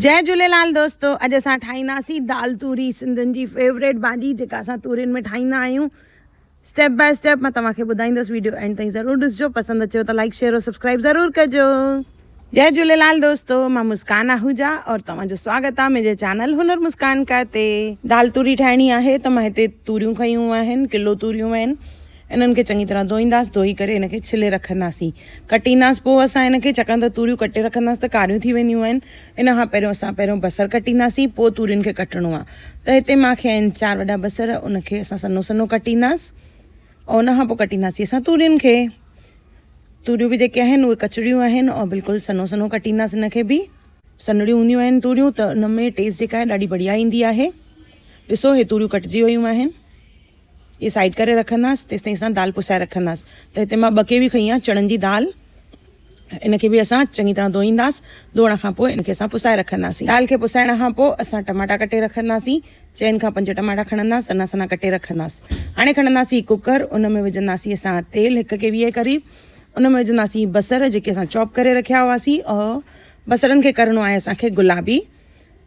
جئي جهوليلال دوستو اڄ اسان ٺاهينداسين دال توري سنڌين جي فيوريٽ ڀاڄي جيڪا اسان تورين ۾ ٺاهيندا آهيون اسٽيپ باء اسٽيپ مان توهان کي ٻڌائيندس ويڊيو اينڊ تائين ضرور ڏسجو پسند اچيو ته لائڪ شيئر اور سبسڪرائب ضرور ڪجو. جئي جهوليلال دوستو مان مسڪان آهوجا اور توهان جو سواگت آهي منهنجي چينل هنر مسڪان ڪا تي. دال توري ٺاهڻي آهي ته مان هتي توريون کنيون آهن ڪلو توريون آهن انهن کي چڱي طرح ڌوئينداس، ڌوئي ڪري ان کي ڇلي رکنداسين، ڪٽينداس پوء اسان ان کي ڇاڪاڻ ته توريون ڪٽي رکنداس ته ڪاريون ٿي وينديون آهن، ان کان پهريون اسان پهريون بصر ڪٽينداسين پوء تورين کي ڪٽڻو آهي ته هتي مان کي آهن چار وڏا بصر ان کي اسان سنو سنو ڪٽينداس او ان کان پوء ڪٽينداسين اسان تورين کي توريون به جيڪي آهن اهي ڪچڙيون آهن او بلڪل سنو سنو ڪٽينداس ان کي به سنڙيون هونديون آهن توريون ته ان ۾ ٽيسٽ جيڪا آهي ڏاڍي بڙيا ايندي آهي ڏسو هي توريون ڪٽجي ويون آهن. اهي سائيڊ ڪري رکنداس تيستائين اسان دال پسائي رکنداس ته هتي مان ٻه ڪيوي کنئي آهن چڻن جي دال ان کي به اسان چڱي طرح ڌوئينداس ڌوئڻ کان پوء ان کي اسان پسائي رکنداسين دال کي پسائڻ کان پوء اسان ٽماٽا ڪٽي رکنداسين چئن کان پنج ٽماٽا کڻنداس سنا سنا ڪٽي رکنداس هاڻي کڻنداسين ڪوڪر ان ۾ وجهنداسين اسان تيل هڪ کي ويهه قريب ان ۾ وجهنداسين بصر جيڪي اسان چاپ ڪري رکيا هئاسين بصرن کي ڪرڻو آهي اسان کي گلابي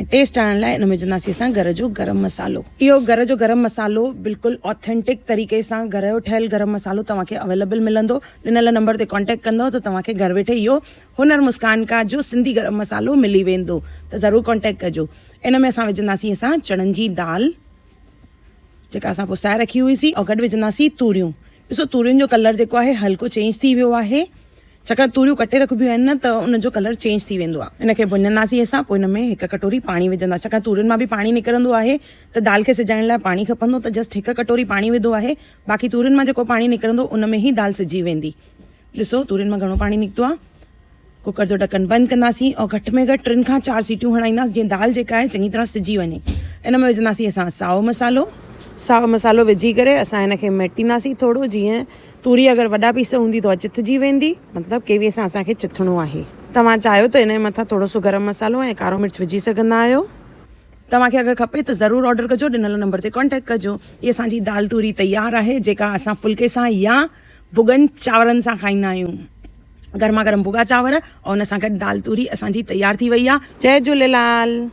۽ ٽيسٽ آڻڻ لاء ان ۾ وجھنداسين اسان گھر جو گرم مسالو اهو گھر جو گرم مسالو بلڪل آٿينٽڪ طريقي سان گھر جو ٺهيل گرم مسالو توهان کي اويليبل ملندو ڏنل نمبر تي ڪانٽيڪٽ ڪندو ته توهان کي گھر ويٺي اهو هنر مسڪان کا جو سنڌي گرم مسالو ملي ويندو ته ضرور ڪانٽيڪٽ ڪجو ان ۾ اسان وجھنداسين اسان چڻن جي دال جيڪا اسان پسائي رکي هئي سي ۽ گڏ وجهندا سي توريون ڏسو تورين جو ڪلر جيڪو آهي هلڪو چينج ٿي ويو آهي ڇاڪاڻ توريون ڪٽي رکبيون آهن نه ته ان جو ڪلر چينج ٿي ويندو آهي ان کي ڀڃندا سي اسان پوء ان ۾ هڪ ڪٽوري پاڻي وجهندا ڇاڪاڻ تورين مان به پاڻي نڪرندو آهي ته دال کي سجائڻ لاء پاڻي کپندو ته جسٽ هڪ ڪٽوري پاڻي وڌو آهي باقي تورين مان جيڪو پاڻي نڪرندو ان ۾ هي دال سجي ويندي ڏسو تورين مان گهڻو پاڻي نڪتو آ ڪوڪر جو ڍڪن بند ڪنداسين او گهٽ ۾ گهٽ ٽن کان چار سيٽيون هڻائينداس جيئن دال جيڪا آهي چڱي طرح سجي وڃي ان ۾ وجهنداسين اسان ساو مسالو ساو مسالو وجهي ڪري اسان ان کي ميٽينداسين ٿورو جيئن توري اگر وڏا پيس هوندي تو چٿجي ويندي مطلب ڪيوي سان اسان کي چٿڻو آهي توهان چاهيو ته ان مٿان ٿورو سو گرم مسالو ۽ ڪارو مرچ وجهي سگهندا آهيو توهان کي اگر کپي ته ضرور آرڊر ڪجو ڏنل نمبر تي ڪانٽيڪٽ ڪجو هي اسان جي دال توري تيار آهي جيڪا اسان ڦلڪي سان يا ڀڳن چانورن سان کائيندا آهيون گرما گرم ڀڳا چانور ان سان گڏ دال توري اسان جي تيار ٿي وئي آهي جي جهوليلال.